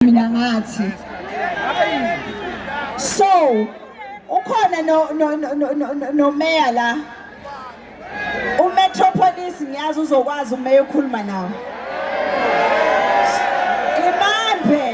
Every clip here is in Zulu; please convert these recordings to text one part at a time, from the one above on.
mina ngathi so ukhona no no no no mayor la umetropolis ngiyazi uzokwazi umeya okhuluma nawo imambe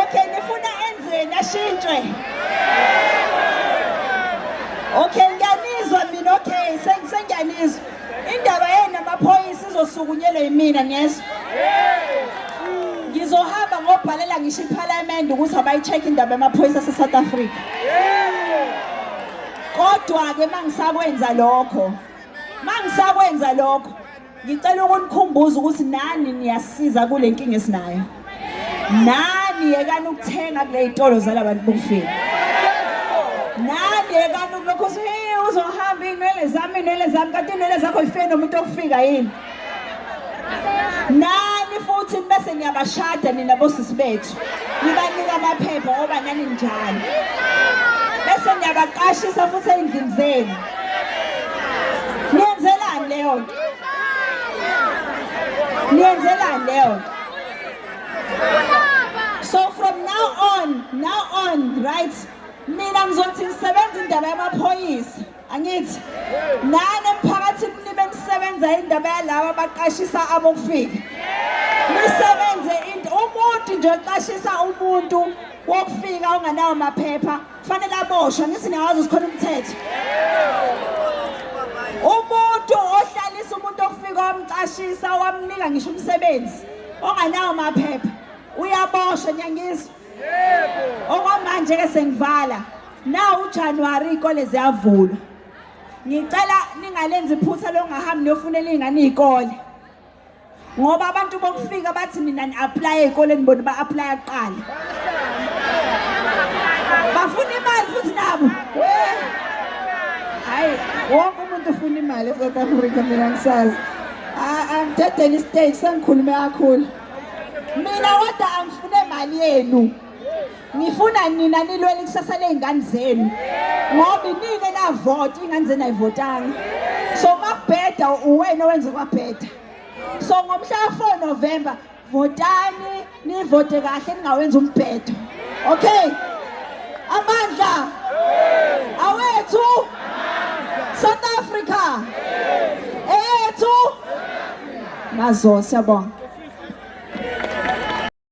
okay nifuna enzeni ashintshwe okay ngiyanizwa mina okay sengiyanizwa Indaba yenu amaphoyisa izosukunyelwa yimina niyezwa. Ngizohamba ngobhalela ngisho iParliament ukuthi abayi-check indaba yamaphoyisa aseSouth Africa. Kodwa-ke mangisakwenza lokho mangisakwenza lokho ngicela ukunikhumbuza ukuthi nani niyasiza kule nkinga esinayo. nani yekani ukuthenga kule yitolo zalabantu bokufika nani yekani ukulokhu uthi hey uzohamba iy'nwele zami iy'nwele zami kanti iy'nwele zakho yifike nomuntu okufika yini nani futhi bese niyabashada nina bosisi bethu nibanika amaphepha ngoba nani njani bese niyabaqashisa futhi ey'ndlini zenu niyenzelani leyo nto niyenzelani leyo nto so from now on now on right mina ngizothi ngisebenza indaba yamaphoyisa angithi nani emphakathini nibe nisebenza indaba yalaba baqashisa abokufika nisebenze into umuntu nje oqashisa umuntu wokufika unganawo maphepha kufanele aboshwe ngithi niyawazi sikhona umthetho umuntu ohlalisa umuntu okufika wamcashisa wamnika ngisho umsebenzi onganawo maphepha uyaboshwa nyangizwa okwamanje-ke sengivala nawu ujanuwari iy'kole ziyavulwa ngicela ningalenzi iphutha longahambi niyofunela iy'ngane iy'kole ngoba abantu bokufika bathi mina ni-aplaye ey'koleni bona ba-aplaya kuqala bafuna imali futhi nabo hayi wonke umuntu ufuna imali e-south africa mina ngisazi angidedele istage sengikhulume kakhulu mina kodwa angifune mali yenu ngifuna nina nilwele ikusasa ley'ngane zenu ngoba inini enavota iy'ngane zenu ayivotanga so makubheda uwena owenze kwabheda so ngomhla ka-four november votani nivote kahle ningawenza umbhedo okay amandla awethu south africa eyethu mazoo siyabonga